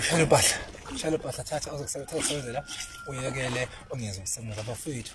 shela impahla shela impahla thatha ozokusebenzela uyekele ongeza ukusebenza bafowethu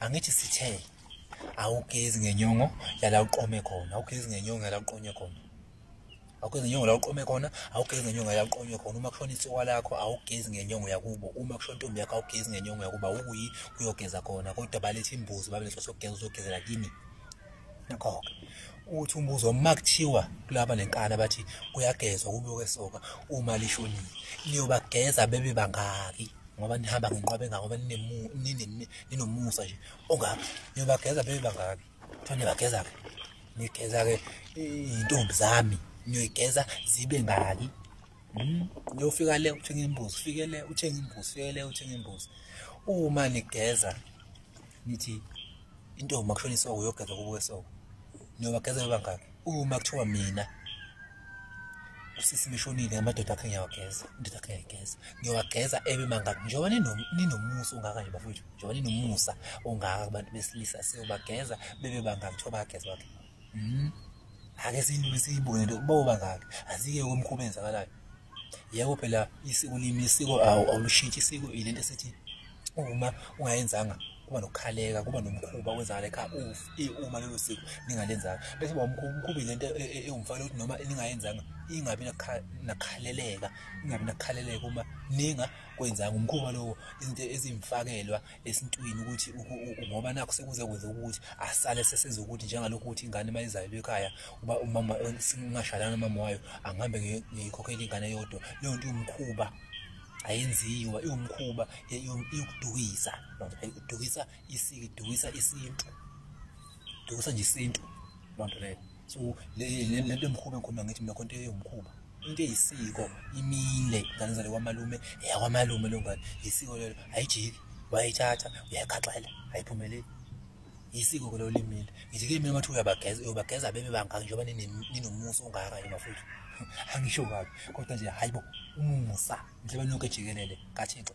angithi sithe awugezi ngenyongo yala uqome khona awugezi ngenyongo yala uqonywe khona awugezi ngenyongo la uqome khona awugezi ngenyongo yala uqonywe khona uma kushona ithiwa lakho awugezi ngenyongo yakubo uma kushona intombi yakho awugezi ngenyongo yakuba ukuyi kuyogeza khona kodwa balethe imbuzi babelethe sokugeza uzogezela kimi nakho uthi umbuzo uma kuthiwa kulaba nenkani abathi kuyagezwa kube kwesoka uma lishonile niyobageza bebe bangaki ngoba nihamba ngenqwabe engako ngoba ninomusa nje ongaki niyobageza bebe bangaki kuthiwa niyabageza-ke nigeza-ke iy'ntombi zami niyoyigeza zibe ngaki hmm? niyofika le uthenga imbuzi fike le uthenga imbuzi fike le uthenga imbuzi uma nigeza nithi intombi makushona isoko uyogeza kubo kwesoko niyobagezela bangaki uma kuthiwa mina usisi mishonile amadoda akhe ngiyawageza indoda akhe ngiyayigeza ngiyowageza ebe mangaki njengoba ninomusa ongaka nje bafowethu njengoba ninomusa ongaka kubantu besilisa siyobageza bebe bangaki kuthiwa bayageza bakhe Mhm. Ake siyilule siyibuke nto kuba ubangaki. Azike komkhuba enzakalayo. Yebo phela isiko limi isiko awu awushintshi isiko ilento esithi uma ungayenzanga kuba nokukhaleka kuba nomkhuba wenzakala ekhaya eh, uma lelo siko ningalenzanga bese uba umkhuba ilento e, e, ewumfana ukuthi noma ningayenzanga ingabi nakhaleleka ingabi nakhaleleka uma ninga kwenzanga umkhuba lowo izinto ezimfakelwa esintwini ukuthi ngoba nakho sekuze kwenza ukuthi asale sesenza ukuthi njengalokhu ukuthi ingane uma izalelwe ekhaya uba umama singashadana umama wayo angihambe ngiyikhokhela ingane yodwa leyo nto iwumkhuba ayenziwa iwumkhuba yokudukisa idukisa isiko idukisa isintu idukisa nje isintu loo nto leyo so le le nto emkhuba ekhuluma ngithi mina khonto eyomkhuba into eyisiko imile ingane zale kwamalume eyakwamalume leyo ngane yisiko lelo ayijiki wayithatha uyayikhaxela ayiphumeleli yisiko ke lelo limile ngithi ke mina mathiwa uyabageza uyobageza bebe bangaki njengoba ninomusa ongaka nje bafowethu angisho kabi kodwa nje hayi bo umusa njengoba nonke jikelele kathixo